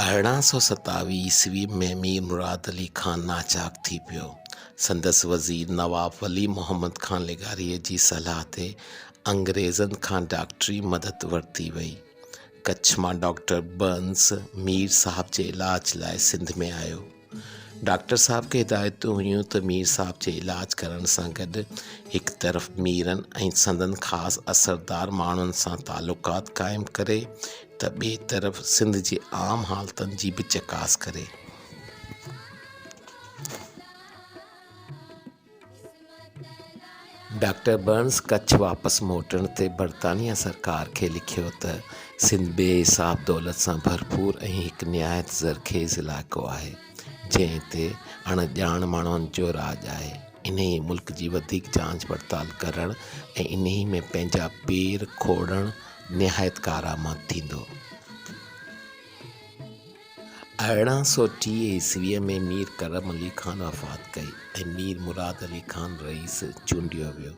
ارڙهن سؤ ستاويهه عيسوي ۾ مير مراد علي خان ناچاڪ ٿي پيو. سندس وزير نواب ولي محمد خان لغاريء جي صلاح تي انگريزن کان ڊاڪٽري مدد ورتي ويئي. ڪڇ مان ڊاڪٽر برنس مير صاحب جي علاج لاء سنڌ ۾ آيو. ڊاڪٽر صاحب کي هدايتون هيون ته مير صاحب جي علاج ڪرڻ سان گڏ هڪ طرف ميرن ۽ سندن خاص اثردار ماڻهن سان تعلقات قائم ڪري ته ٻئي طرف سنڌ جي عام حالتن جي به چڪاس ڪري. ڊاڪٽر برنز ڪڇ واپس موٽڻ تي برطانيه سرڪار کي لکيو ته سنڌ بي حساب دولت سان ڀرپور ۽ هڪ نهايت زرخيز علائقو آهي، جنهن تي اڻ ڄاڻ ماڻهن جو راڄ آهي، انهيء ملڪ جي وڌيڪ جانچ پڙتال ڪرڻ ۽ انهيء ۾ پنهنجا پير کوڙڻ نهايت ڪارآمد ٿيندو. ارڙهن سؤ ٽيهه عيسويء ۾ مير ڪرم علي خان وفات ڪئي ۽ مير مراد علي خان رئيس چونڊيو ويو.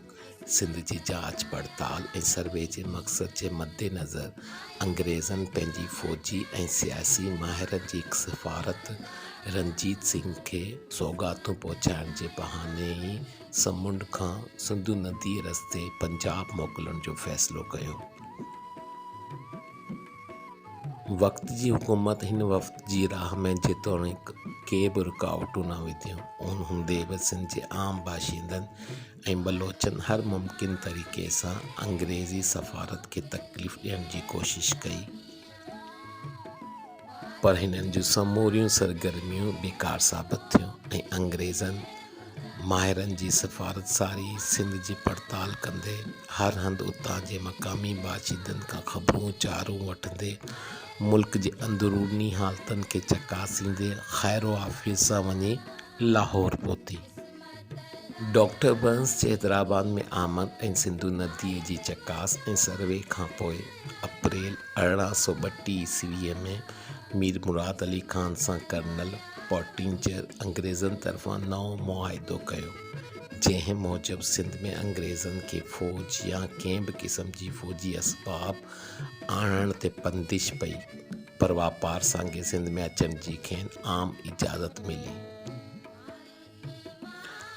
سنڌ جي جاچ پڙتال ۽ سروي جي مقصد جي مدنظر انگريزن پنهنجي فوجي ۽ سياسي ماهرن جي هڪ سفارت رنجيت سنگهه کي سوغاتون پهچائڻ جي بهاني ئي سمنڊ کان سنڌو نديء رستي پنجاب موڪلڻ جو فيصلو ڪيو. وقت جي حڪومت هن وفد جي راهه ۾ جيتوڻيڪ ڪي به رڪاوٽون نه وڌيون، ان هوندي به سنڌ جي عام باشندن ۽ بلوچن هر ممڪن طريقي سان انگريزي سفارت کي تڪليف ڏيڻ جي ڪوشش ڪئي، پر هنن جون سموريون سرگرميون بيڪار ثابت ٿيون ۽ انگريزن ماهرن جي سفارت ساري سنڌ جي پڙتال ڪندي، هر هنڌ اتان جي مقامي باشندن کان خبرون چارون وٺندي، ملڪ جي اندروني حالتن کي چڪاسيندي خيروعافيت سان وڃي لاهور پهتي. ڊاڪٽر برنس جي حيدرآباد ۾ آمد ۽ سنڌو نديء جي چڪاس ۽ سروي کان پوء اپريل ارڙهن سؤ ٻٽيهه عيسويء ۾ مير مراد علي خان سان ڪرنل پوٽينجر انگريزن طرفان نئون معاهدو ڪيو، جنهن موجب سنڌ ۾ انگريزن کي فوج يا ڪنهن به قسم جي فوجي اسباب آڻڻ تي بندش پئي، پر واپار سانگي سنڌ ۾ اچڻ جي کين عام اجازت ملي.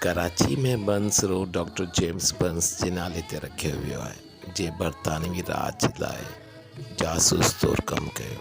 Karachi ۾ Burnes road doctor James Burnes جي نالي تي رکيو ويو آهي، جنهن برطانوي راڄ لاء جاسوس طور ڪم ڪيو.